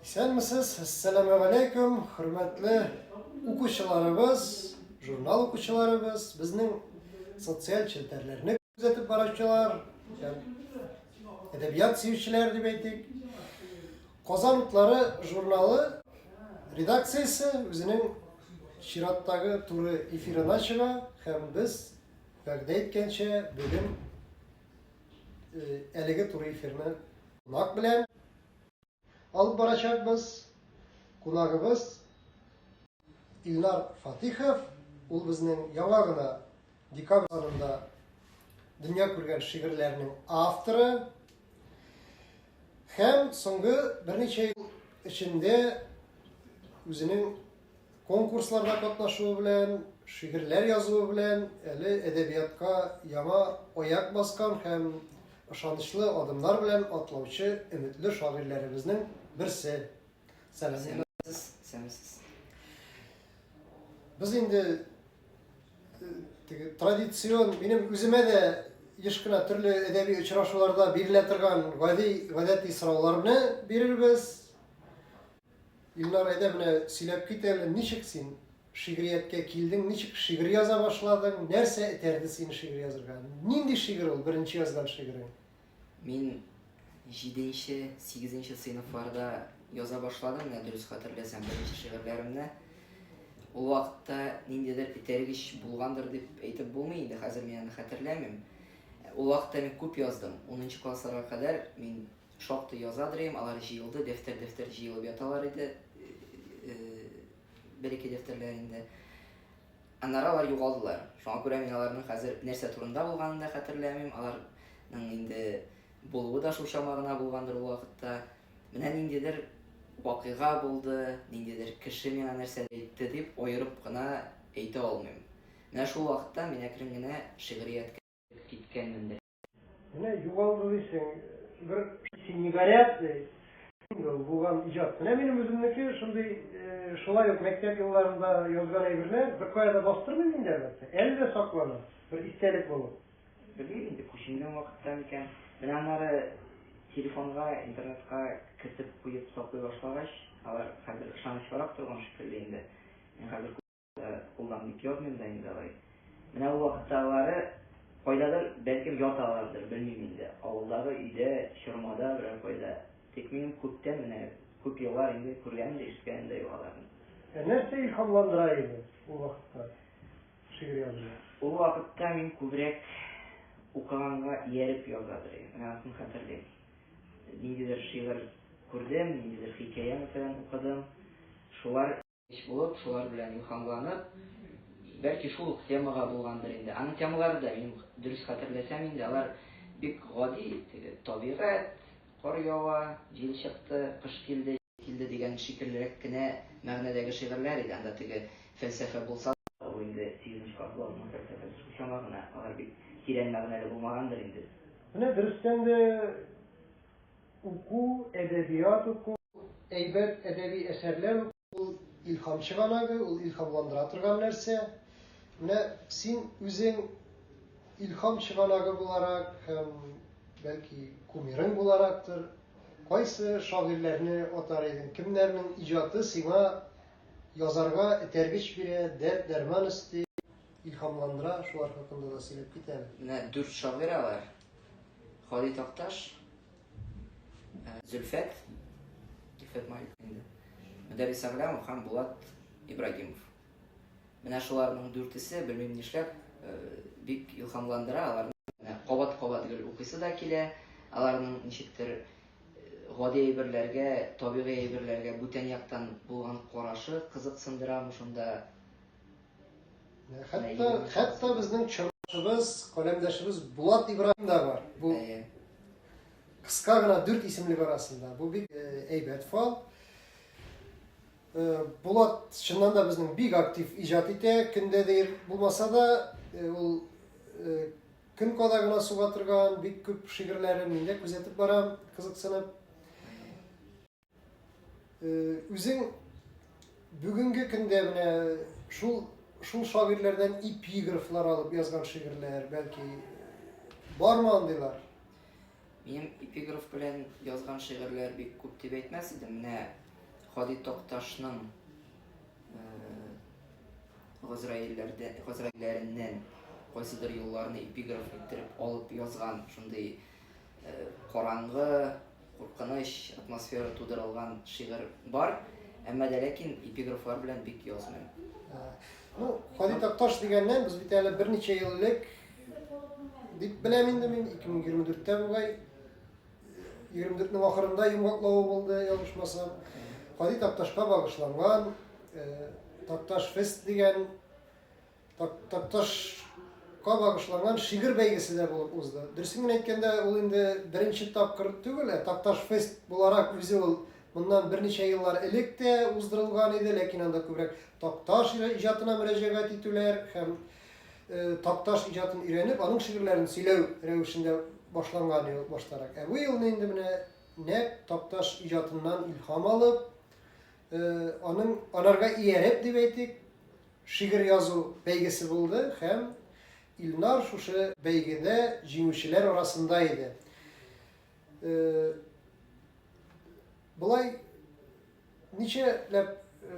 Исәнмесез, әссәламу алейкум, хөрмәтле укучыларыбыз, журнал укучыларыбыз, безнең социаль челтәрләрне күзәтеп баручылар, әдәбият сөючеләр дип әйтик. Казан утлары журналы редакциясе үзенең чираттагы туры эфирына чыга һәм без вәгъдә иткәнчә бүген әлеге туры эфирны кунак белән алып барачакбыз. Кунагыбыз Илнар Фатихов, ул безнең яңа гына декабрь санында дөнья күргән шигырьләрнең авторы һәм соңгы берничә ел эчендә үзенең Конкурсларда катнашуы белән, шигырьләр язуы белән әле әдәбиятка яңа аяк баскан һәм ышанычлы адымнар белән атлаучы өметле шагыйрьләребезнең берсе. Сәламнәр. Сез исәнмесез. Без инде теге традицион, минем үземә дә еш кына төрле әдәби очрашуларда бирелә торган гади, гадәти сорауларны бирербез. Илнар, әйдә менә сөйләп кит әле, ничек син шигърияткә килдең, ничек шигырь яза башладың, нәрсә этәрде сине шигырь язырга? Нинди шигырь ул беренче язган шигырың? Мин җиденче, сигезенче сыйныфларда яза башладым, менә дөрес хәтерләсәм, беренче шигырьләремне. Ул вакытта ниндидер этәргеч булгандыр дип әйтеп булмый инде, хәзер мин аны хәтерләмим. Ул вакытта мин күп яздым. 10 классларга кадәр мин Шактый язадыр идем, алар җыелды, дәфтәр-дәфтәр җыелып яталар иде. Бер-ике дәфтәрләр инде. Аннары алар югалдылар. Шуңа күрә мин аларның хәзер нәрсә турында булганын да хәтерләмим. Аларның инде булуы да шул чама гына булгандыр ул вакытта. Менә ниндидер вакыйга булды, ниндидер кеше миңа нәрсә әйтте дип аерып кына әйтә алмыйм. Менә шул вакытта мин әкрен генә шигърияткә киткәнмендер. Менә югалды дисең, бер. Син не горят, ди. Сингл булган иҗат. Менә минем үземнеке шундый, шулай ук мәктәп елларында язган әйберләр, беркая да бастырмыйм инде, әлбәттә. Әле дә саклана, бер истәлек булып. Белмим инде, күченгән вакытта микән. Менә аннары телефонга, интернетка кертеп куеп саклый башлагач, алар хәзер ышанычлырак торган шикелле инде. Мин хәзер. Кулдан бик язмыйм да инде алай. Менә ул вакытта алары кайдадыр, бәлкем, яталардыр, белмим инде. Авылдагы өйдә, чормада берәр кайда. Тик минем күптән, менә күп еллар инде күргәнем дә, ишеткәнем дә юк аларны. Ә нәрсә илһамландыра иде ул вакытта шигырь язуга? Ул вакытта мин күбрәк укыганга ияреп язадыр идем. Менә анысын хәтерлим. Ниндидер шигырь күрдем, ниндидер хикәя мәсәлән укыдым. Шулар. Кич булып, шулар белән илһамланып, бәлки шул ук темага булгандыр инде, аның темалары да, мин дөрес хәтерләсәм инде, алар бик гади, теге табигать, кар ява, җил чыкты, кыш килде, килде дигән шикеллерәк кенә мәгънәдәге шигырьләр иде, анда теге фәлсәфә булса да, ул инде сигезенче класс баласының фәлсәфәсе шул чама гына, алар бик тирән мәгънәле булмагандыр инде. Менә дөрестән дә. Уку, әдәбият уку, әйбәт әдәби әсәрләр уку, ул илһам чыганагы, ул илһамландыра торган нәрсә. Менә син үзең илһам чыганагы буларак һәм, бәлки, кумирың буларактыр, кайсы шагыйрьләрне атар идең? Кемнәрнең иҗаты сиңа язарга этәргеч бирә, дәрт-дәрман өсти, илһамландыра, шулар хакында да сөйләп кит әле. Менә дүрт шагыйрә бар. Хали Такташ, э, Зөлфәт, Зөлфәт Малик инде, Мөдәррис Аграмов һәм Булат Ибрагимов. Менә шуларның дүртесе, белмим нишләп, э, бик илһамландыра, аларны кабат-кабат гел укыйсы да килә, аларның ничектер э, гади әйберләргә, табигый әйберләргә бүтән яктан булган карашы кызыксындырамы шунда Хәтта, хәтта безнең чорбыз, каләмдәшебез Булат Ибраһим да бар. Бу кыска гына дүрт исемлек арасында. Бу бик әйбәт фал. Булат чыннан да безнең бик актив иҗат итә. Көндә дә булмаса да, ул көн када гына суга торган бик күп шигырьләрен мин дә күзәтеп барам, кызыксынып. Үзең бүгенге көндә менә шул шул шагыйрьләрдән эпиграфлар алып язган шигырьләр, бәлки бармы андыйлар? Минем эпиграф белән язган шигырьләр бик күп дип әйтмәс идем. Менә Хади Токташның газраилләрдән газраилләреннән кайсыдыр юлларны эпиграф иттереп алып язган шундый Караңгы, куркыныч атмосфера тудырылган шигырь бар, әмма дә ләкин эпиграфлар белән бик язмыйм. Ну, Хали Такташ дигәннән, без бит әле берничә ел элек, дип беләм инде мин, 2024-тә бугай, 24-нең ахырында йомгаклавы булды, ялгышмасам. Хали Такташка багышланган, Такташ фест дигән Такташка багышланган шигырь бәйгесе дә булып узды. Дөресен генә әйткәндә, ул инде беренче тапкыр түгел, ә Такташ фест буларак үзе ул моннан берничә еллар элек тә уздырылган иде, ләкин анда күбрәк Такташ иҗатына мөрәҗәгать итүләр һәм Такташ иҗатын өйрәнеп, аның шигырьләрен сөйләү рәвешендә башланган иде баштарак. Ә бу елны инде менә нәкъ Такташ иҗатыннан илһам алып, Аның анарга ияреп дип әйтик, шигырь язу бәйгесе булды һәм Илнар шушы бәйгедә җиңүчеләр арасында иде. Болай ничәләп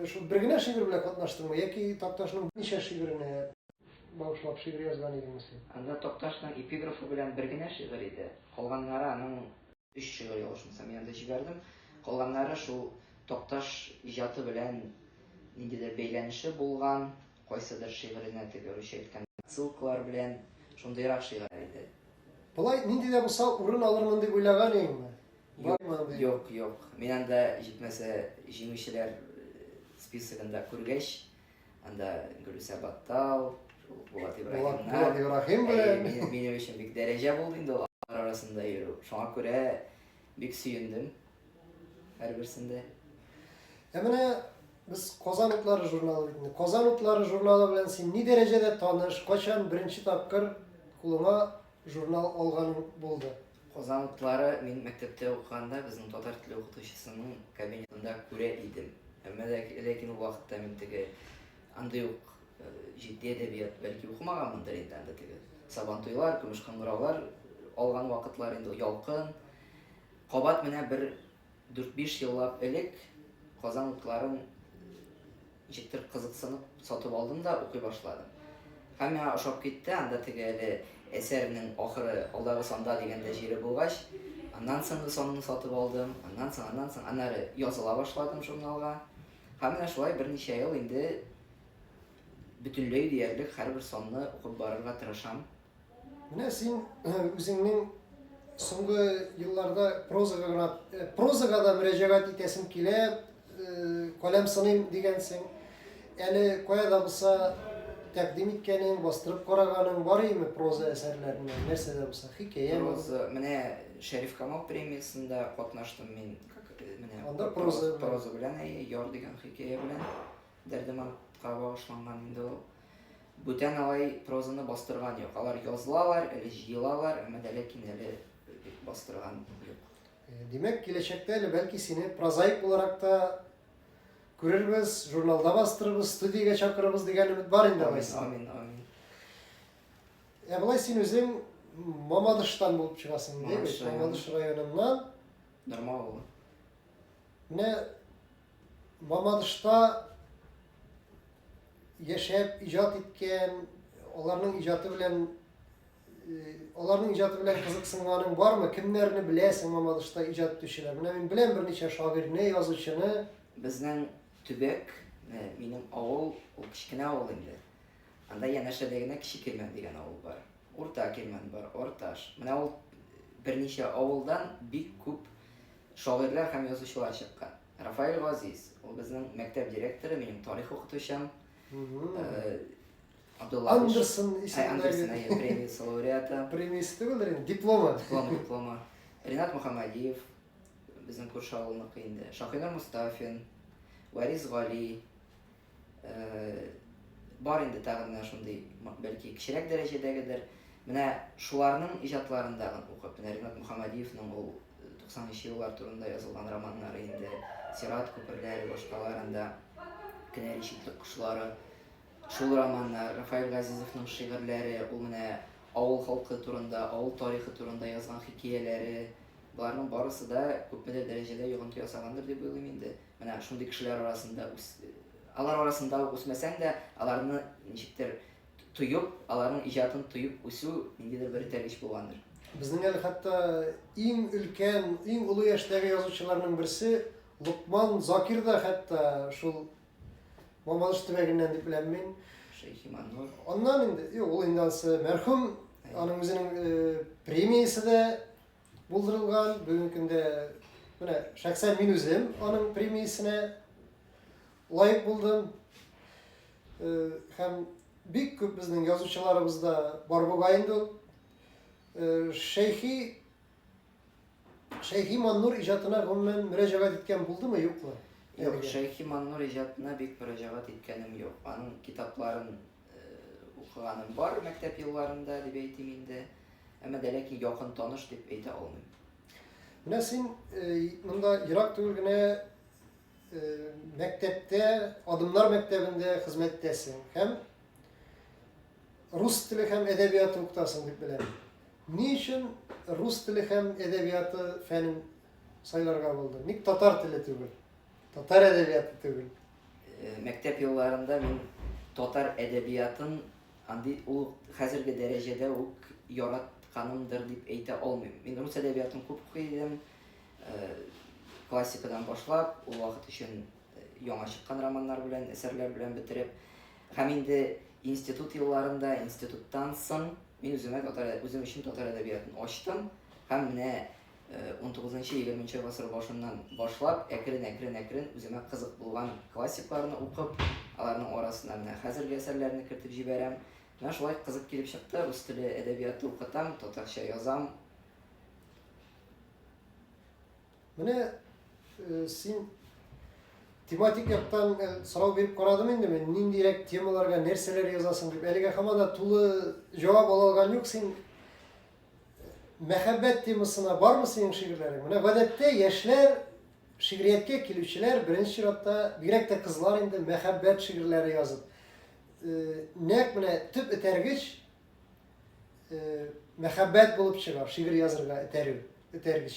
шул бер генә шигырь белән катнаштыңмы яки Такташның ничә шигыренә багышлап шигырь язган идеңме син? Анда Такташның эпиграфы белән бер генә шигырь иде. Калганнары аның Өч чыгыр ялгышмасам янда җибәрдем. Калганнары шул Такташ иҗаты белән ниндидер бәйләнеше булган, кайсыдыр шигыренә теге русча әйткән отсылкалар белән шундыйрак шигырь иде. Болай нинди дә булса урын алырмын дип уйлаган идеңме? Бармы? Юк, юк. Мин анда җитмәсә җиңүчеләр списогында күргәч, Анда Гөлүсә Баттал, Булат Ибраһимнар. Булат Ибраһим белән. Минем өчен бик дәрәҗә булды инде ул арасында йөрү. Шуңа күрә бик сөендем һәрберсендә. Ә менә без Казан утлары журналы бит инде. Казан утлары журналы белән син ни дәрәҗәдә таныш, качан беренче тапкыр кулыңа журнал алганың булды? Казан утлары мин мәктәптә укыганда безнең татар теле укытучысының кабинетында күрә идем. Әмма ләкин ул вакытта мин теге андый ук җитди әдәбият бәлки укымаганмындыр инде анда теге сабантуйлар, көмеш кыңгыраулар алган вакытлар инде ялкын. Кабат менә бер 4-5 еллап элек Казан утларын Ничектер кызыксынып сатып алдым да укый башладым. Һәм миңа ошап китте, анда теге әле әсәрнең ахыры алдагы санда дигәндә җире булгач, аннан соңгы санны сатып алдым, аннан соң, аннан соң, аннары языла башладым журналга. Һәм менә шулай берничә ел инде бөтенләй диярлек һәрбер санны укып барырга тырышам. Менә син үзеңнең соңгы елларда прозага гына э, прозага да мөрәҗәгать итәсем килә, э, каләм сыным дигәнсең. Әле кая да булса тәкъдим иткәнең, бастырып караганың бар име проза әсәрләренә, нәрсә дә булса, хикәя. Проза, менә Шәриф Камал премиясендә катнаштым мин. Э, менә анда проза проза белән яр дигән хикәя белән Дәрдемантка багышланган инде ул. Бүтән алай прозаны бастырган юк. Алар язлалар, әле җыелалар, әмма дә ләкин әле бастырган юк. Э, димәк, киләчәктә әле бәлки сине прозаик буларак та күрербез, журналда бастырырбыз, студиягә чакырырбыз дигән өмет бар инде алайса. Амин, амин. Ә болай син үзең Мамадыштан булып чыгасың, ди бит. Мамадыш районыннан. Нормал. Менә Мамадышта яшәп иҗат иткән, аларның иҗаты белән аларның иҗаты белән кызыксынганың бармы? Кемнәрне беләсең Мамадышта иҗат итүчеләр? Менә мин беләм берничә шагыйрьне, язучыны. Безнең төбәк, минем авыл, ул кечкенә авыл инде. Анда янәшәдә генә Кече Кирмән дигән авыл бар. Урта Кирмән бар, Орташ. Менә ул берничә авылдан бик күп Шагыйрьләр һәм язучылар чыккан. Рафаэль Газиз, ул безнең мәктәп директоры, минем тарих укытучым. Абдулла Андерсон исемендәге премиясе лауреаты. Премиясе түгелдер инде, дипломы. Дипломы, дипломы. Ринат Мөхәммәдиев, безнең күрше авылныкы инде. Шакинур Мустафин, Варис Гали, бар инде тагын менә шундый, бәлки кечерәк дәрәҗәдәгедер. Менә шуларның иҗатларында укып, менә Ринат Мөхәммәдиевның ул 90-нчы еллар турында язылган романнары инде, Сират күперләре, башкаларында Кенәри читлек кошлары, шул романнар, Рафаил Газизовның шигырьләре, ул менә авыл халкы турында, авыл тарихы турында язган хикәяләре, Боларның барысы да күпмедер дәрәҗәдә йогынты ясаганнар дип уйлыйм инде. Менә шундый кешеләр арасында үс алар арасында ук үсмәсәң дә, аларны ничектер тоеп, аларның иҗатын тоеп үсү ниндидер бер этәргеч булгандыр. Безнең әле хәтта иң өлкән, иң олы яшьтәге язучыларның берсе Лукман Закир да хәтта шул Мамадыш төбәгеннән дип беләм мин. Шәйхиманур. Аннан инде, юк, ул инде ансы мәрхүм, аның үзенең премиясе дә Булдырылган бүгенге көндә менә шәхсән мин үзем аның премиясенә лаек булдым. Һәм бик күп безнең язучыларыбызда бар бугай инде ул. Шәйхи Шәйхи Маннур иҗатына гомумән мөрәҗәгать иткән булдымы, юкмы? Юк, Шәйхи Маннур иҗатына бик мөрәҗәгать иткәнем юк. Аның китапларын укыганым бар мәктәп елларында дип әйтим инде. Әмма дә ләкин якын таныш дип әйтә алмыйм. Менә син монда ерак түгел генә мәктәптә, Адымнар мәктәбендә хезмәттәсең һәм рус теле һәм әдәбияты укытасың дип беләм. Ни өчен рус теле һәм әдәбияты фәнен сайларга булды? Ник татар теле түгел? Татар әдәбияты түгел? Мәктәп елларында мин татар әдәбиятын андый ул хәзерге дәрәҗәдә үк яратканымдыр дип әйтә алмыйм. Мин рус әдәбиятын күп укый идем. Классикадан башлап, ул вакыт өчен яңа чыккан романнар белән, әсәрләр белән бетереп. Һәм инде институт елларында, институттан соң мин үземә татар үзем өчен татар әдәбиятын ачтым һәм менә 19-20 гасыр башыннан башлап, әкрен-әкрен-әкрен үземә кызык булган классикларны укып, аларның арасына менә хәзерге әсәрләрне кертеп җибәрәм. Менә шулай кызык килеп чыкты, рус теле әдәбияты укытам, татарча язам. Менә э, син тематик яктан э, сорау биреп карадым инде мин, ниндирәк темаларга нәрсәләр язасың дип. Әлегә һаман да тулы җавап ала алган юк. Син Мәхәббәт темасына бармы синең шигырьләрең? Менә гадәттә яшьләр шигърияткә килүчеләр беренче чиратта, бигрәк тә кызлар инде мәхәббәт шигырьләре язып. Э, нәкъ менә төп этәргеч э, мәхәббәт булып чыга, шигырь язырга этәрү, этәргеч.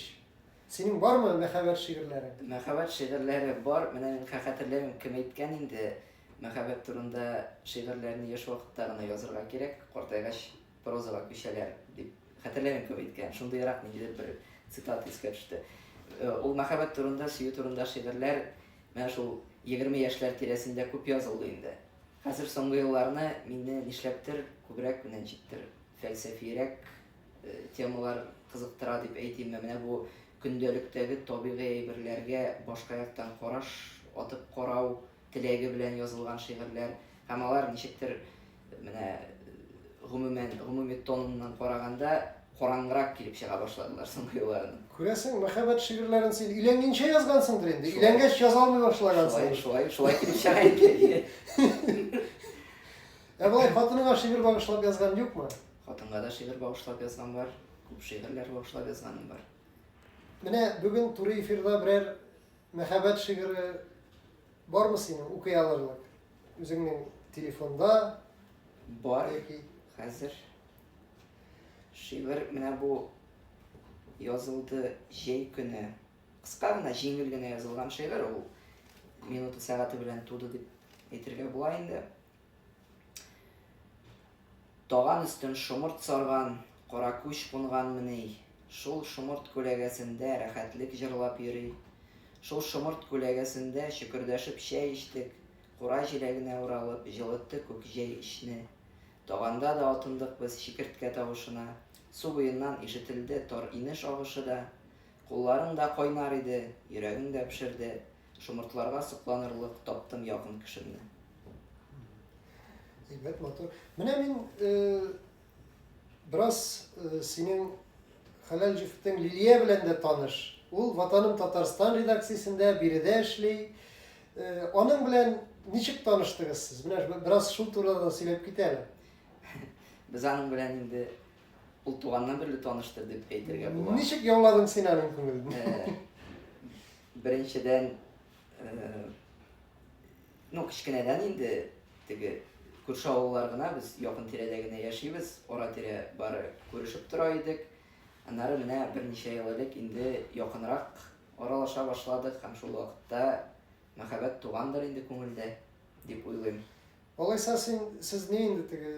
Синең бармы мәхәббәт шигырьләре? Мәхәббәт шигырьләре бар. Менә мин хәтерләмим, кем әйткән инде, мәхәббәт турында шигырьләрне яшь вакытта гына язырга кирәк, картайгач Прозага күчәләр, дип хәтерләмим кем әйткән, шундыйрак ниндидер бер цитата искә төште. Э, ул мәхәббәт турында, сөю турында шигырьләр менә шул 20 яшьләр тирәсендә күп язылды инде. Хәзер соңгы елларны мине нишләптер күбрәк менә җиттер фәлсәфирәк э, темалар кызыктыра дип әйтимме. Менә бу көндәлектәге табигый әйберләргә башка яктан караш атып карау, теләге белән язылган шигырьләр һәм алар ничектер менә гомумән гомуми тоныннан караганда караңгырак килеп чыга башладылар соңгы елларында. Күрәсең, мәхәббәт шигырьләрен син өйләнгәнчә язгансыңдыр инде. Шулай. Өйләнгәч яза алмый башлагансың. Шулай, шулай, шулай килеп чыга инде. Ә болай хатыныңа шигырь багышлап язган юкмы? Хатынга да шигырь багышлап язган бар, күп шигырьләр багышлап язганым бар. Менә бүген туры эфирда берәр Мәхәббәт шигыре бармы синең укый алырлык? Үзеңнең телефонда? Бар. Хәзер шигырь менә бу язылды җәй көне. Кыска гына, җиңел генә язылган шигырь ул. Минуты сәгате белән туды дип әйтергә була инде. Таган өстен шомырт сарган, кара күч кунганмыни, шул шомырт күләгәсендә рәхәтлек җырлап йөри. Шул шомырт күләгәсендә чөкердәшеп чәй эчтек, кура җиләгенә уралып, җылытты күк җәй эчне. Таганда да атындык без чикерткә тавышына, су буеннан ишетелде тар инеш агышы да. Кулларың да кайнар иде, йөрәгең дә пешерде, Шомыртларга сокланырлык таптым якын кешемне. Әйбәт, матур. Менә мин бераз синең хәләл җефтең Лилия белән дә таныш. Ул Ватаным Татарстан редакциясендә биредә эшли. Аның белән ничек таныштыгыз сез? Менә бераз шул турыда да сөйләп кит әле. Без аның белән инде ул туганнан бирле таныштыр дип әйтергә була. Ничек яуладың син аның күңелен? Беренчедән, ну, кечкенәдән инде теге күрше авыллар гына, без якын тирәдә генә яшибез, ара-тирә бары күрешеп тора идек. Аннары менә берничә ел элек инде якынрак аралаша башладык һәм шул вакытта мәхәббәт тугандыр инде күңелдә, дип уйлыйм. Алайса син, сез ни инде теге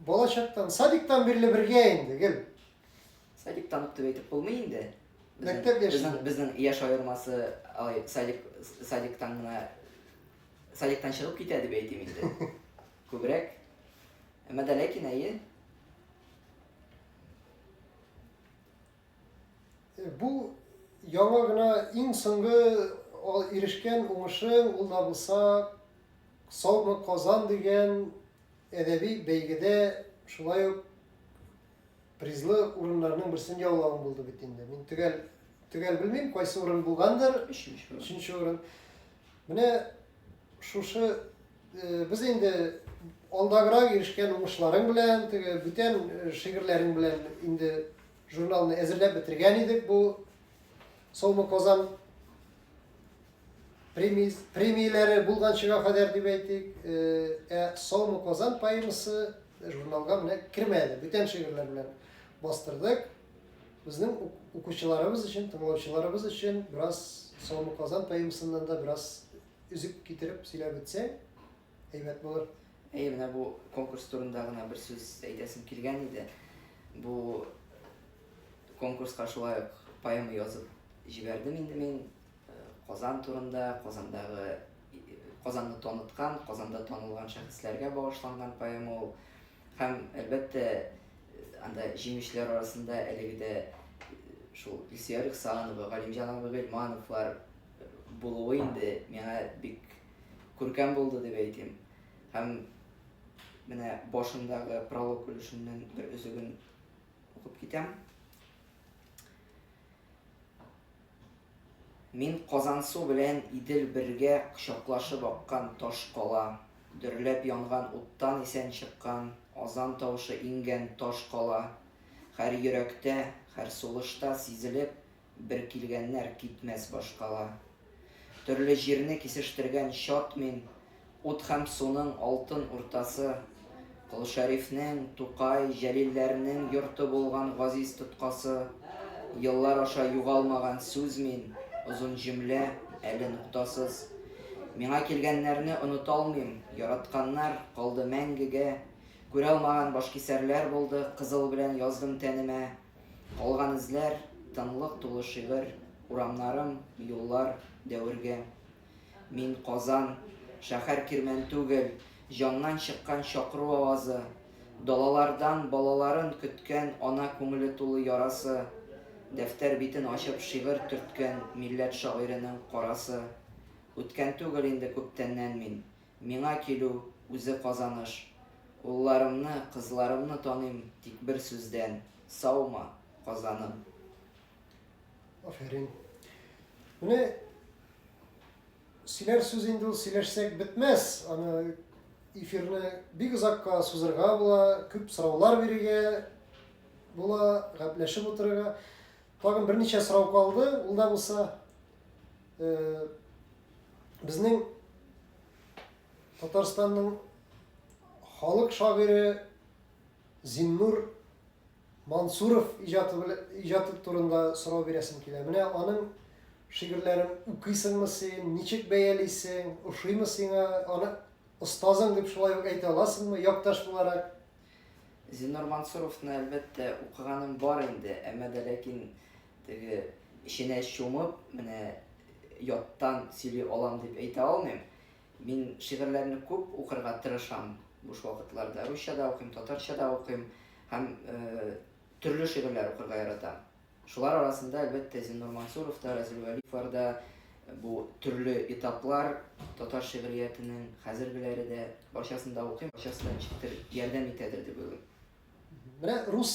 балачактан, садиктан бирле бергә инде гел? Садик танып дип әйтеп булмый инде. Мәктәп яши. Безнең безнең яшь аермасы алай садик садиктан гына садиктан чыгып китә дип әйтим инде. Күбрәк. Әмма дә ләкин әйе. Э, бу яңа гына иң соңгы ирешкән уңышың ул да булса Саумы Казан дигән әдәби бәйгедә шулай ук Призлы урыннарның берсен яулавым булды бит инде. Мин төгәл төгәл белмим, кайсы урын булгандыр. Өченче урын. Өченче урын. Менә шушы э, без инде алдаграк ирешкән уңышларың белән, теге бүтән э, шигырьләрең белән инде журналны әзерләп бетергән идек. Бу Солма Казан премис, премияләре булганчыга кадәр дип әйтик, э, ә Саумы Казан поэмасы журналга менә кермәде, бүтән шигырьләр белән бастырдык. Безнең укучыларыбыз өчен, тыңлаучыларыбыз өчен бераз Саумы Казан поэмасыннан да бераз үзек китереп сөйләп үтсәң, әйбәт булыр. Әйе, менә бу конкурс турында гына бер сүз әйтәсем килгән иде. Бу конкурска шулай ук поэма язып җибәрдем инде мин Казан турында, Казандагы Казанны таныткан, Казанда танылган шәхесләргә багышланган поэма ул. Һәм, әлбәттә, анда җиңүчеләр арасында әлеге дә шул Илсөя Рөхсанова, Галимҗан абый Гыйльмановлар булуы инде миңа бик күркәм булды дип әйтим. Һәм менә башындагы пролог өлешеннән бер өзеген укып китәм. Мин Казансу белән Идел бергә кочаклашып аккан таш кала, дөрләп янган уттан исән чыккан, азан тавышы иңгән таш кала, хәр йөрәктә, хәр сулышта сизелеп, бер килгәннәр китмәс башкала. Төрле җирне кисештергән чат мин, Ут һәм суның алтын уртасы. Кол Шәрифнең, Тукай, Җәлилләрнең йорты булган газиз тоткасы. Еллар аша югалмаган сүз мин, Озын җөмлә, әле нуктасыз. Миңа килгәннәрне оныталмыйм, Яратканнар, калды мәңгегә. Күралмаган башкисәрләр булды, Кызыл белән яздым тәнемә. Калган эзләр, тынлык тулы шигырь, Урамнарым, юллар, дәверге. Мин, Казан, шәһәр кирмән түгел, Җаннан чыккан чакыру авазы, Далалардан балаларын көткән Ана күңеле тулы ярасы, Дәфтәр битен ачып шигырь төрткән Милләт шагыйренең карасы. Үткән түгел инде күптәннән мин, Миңа килү, үзе казаныш. Улларымны, кызларымны таныйм тик бер сүздән, саумы, Казаным! Афәрин! Менә сөйләр сүз инде ул, сөйләшсәк бетмәс, аны эфирны бик озакка сузырга була, күп сораулар бирергә була, гәпләшеп утырырга. Тагын берничә сорау калды, ул да булса. Безнең Татарстанның халык шагыйре Зиннур Мансуров иҗаты турында сорау бирәсем килә. Менә аның шигырьләрен укыйсыңмы син, ничек бәялисең, ошыймы сиңа, аны остазың дип шулай ук әйтә аласыңмы, якташ буларак? Зиннур Мансуровны, әлбәттә, укыганым бар инде, әмма дә ләкин Теге, эченә чумып, менә яттан сөйли алам дип әйтә алмыйм. Мин шигырьләрне күп укырга тырышам буш вакытларда. Русча да укыйм, татарча да укыйм һәм төрле шигырьләр укырга яратам. Шулар арасында, әлбәттә, Зиннур Мансуров та, Разил Вәлиевлар да, бу төрле этаплар татар шигъриятенең хәзергеләре дә барчасын да укыйм, барчасы да ничектер ярдәм итәдер дип уйлыйм. Менә рус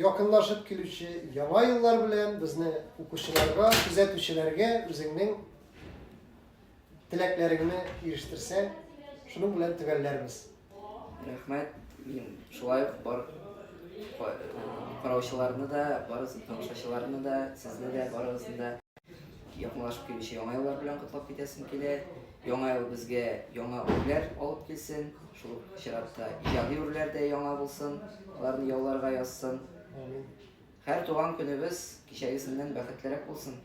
Якынлашып килүче яңа еллар белән безне укучыларга, күзәтүчеләргә үзеңнең теләкләреңне ирештерсәң, шуның белән төгәлләрбез. Рәхмәт. Мин шулай ук бар караучыларны да, барысын тамашачыларны да, сезне дә барыгызны да Якынлашып килүче яңа еллар белән котлап китәсем килә. Яңа ел безгә яңа үрләр алып килсен. Шул чиратта иҗади үрләр дә яңа булсын, аларны яуларга язсын. Амин. Һәр туган көнебез кичәгесеннән бәхетлерәк булсын.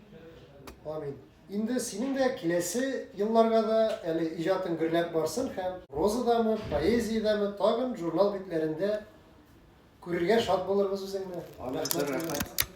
Амин. Инде синең дә киләсе елларга да әле иҗатың гөрләп барсын һәм прозадамы, поэзиядәме, тагын журнал битләрендә күрергә шат булырбыз үзеңне. Амин. Зур рәхмәт.